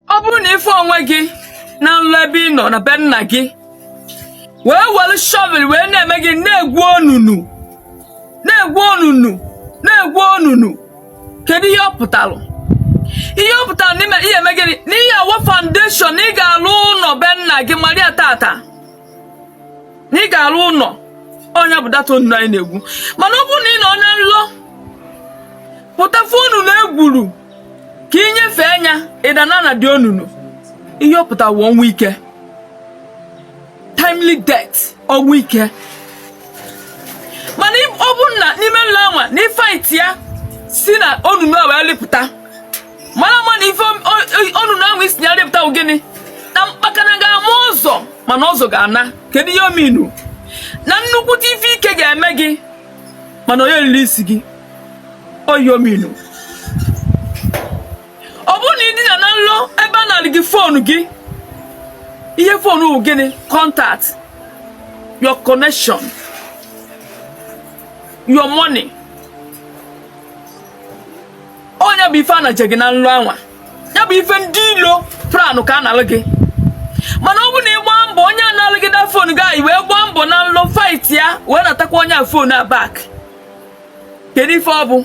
ọ bụrụ na ị fụ onwe gị na nlọ ebe ị nọ na be nna gị wee were shọvel wee na-eme gịnị na-egwu onunu na-egwu onunu na-egwu onunu kedu ihe ọ pụtara ihe ọ pụtara n'ime ihe eme gịnị na ị ya-awa foundation na ị ga-alụ ụlọ be nna gị mara ya taata na ị ga-alụ ụlọ ọ nya bụ dat onunu anyị na-egwu mana ọ bụrụ na ị nọ na nlọ pụta fụ onunu e gwuru ka ị nyefee anya ị dana na de onunu ihe ọ pụtara wụ ọnwụ ike timely death ọnwụ ike mana ị- ọ bụrụ na n'ime nlọ anwa na ị faiti ya si na onunu a wee lịpụta mara ama na ife o- o- onunu ahụ i si na ya lịpụta wụ gịnị na mkpakana ga-ama ụzọ mana ụzọ ga-ana kedu ihe ọ mean na nnukwute ife ike ga-eme gị mana onye riri isi gị ọ ya ọ mean ọ bụrụ na ị dina na nlọ ebe a nalụ gị fon gị ihe fon wụ gịnị contact your connection your money ọ nya bụ ife a na-eje gị na nlọ anwa ya bụ ife ndị ilo pranụ ka a nalụ gị mana ọ bụ na ị gba mbọ onye a nalụ gị dat fon gị a ị wee gbaa mbọ na nlọ fait ya wee natakwa onye a fon a bak kedu ife ọ bụ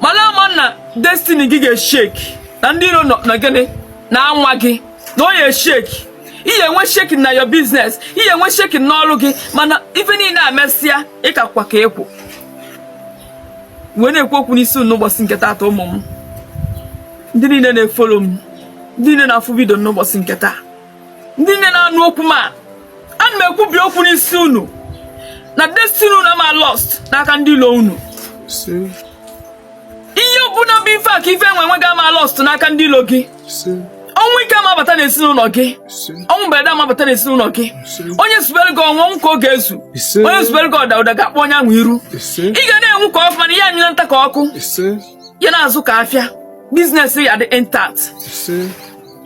malụ ama na destini gị ga-esheki na ndị iro nọ gịnị na-anwa gị na ọ ya-esheki ị ya-enwe shekin na yo biznes ị ya-enwe shekin n'ọrụ gị mana ife niile a mesịa ị kakwa ka ekwu wee na-ekwu okwu n'isi unu n'ụbọchị nke taata ụmụ m ndị niile na-efolo m ndị niile na-afụ vidio n'ụbọchị nke taa ndị niile na-anụ okwu m a ana m ekwubi okwu n'isi unu na destiny unu ama lost n'aka ndị ilo unu ihe ọbụla bụ ife akụ ife enwe enwe gị ama lost n'aka ndị ilo gị ọnwụ ike ama abata n'ezinụlọ gị ọnwụ mberede ama abata n'ezinụlọ gị onye zubere gị ọnwụ ọnwụ ka ọ ga-ezu onye zubere gị ọda ọda ga-akpọ onye ahụ iru ị ga na-enwu ka ọkụ mana ihe anyụla nta ka ọkụ ya na-azụ ka afịa biznes ya dị intact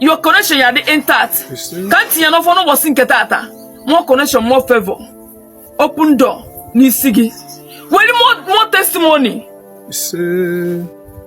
your connection ya dị intact ka m tinye n'ọfọ n'ụbọchị nke taata more connection more favor open door n'isi gị were more testimony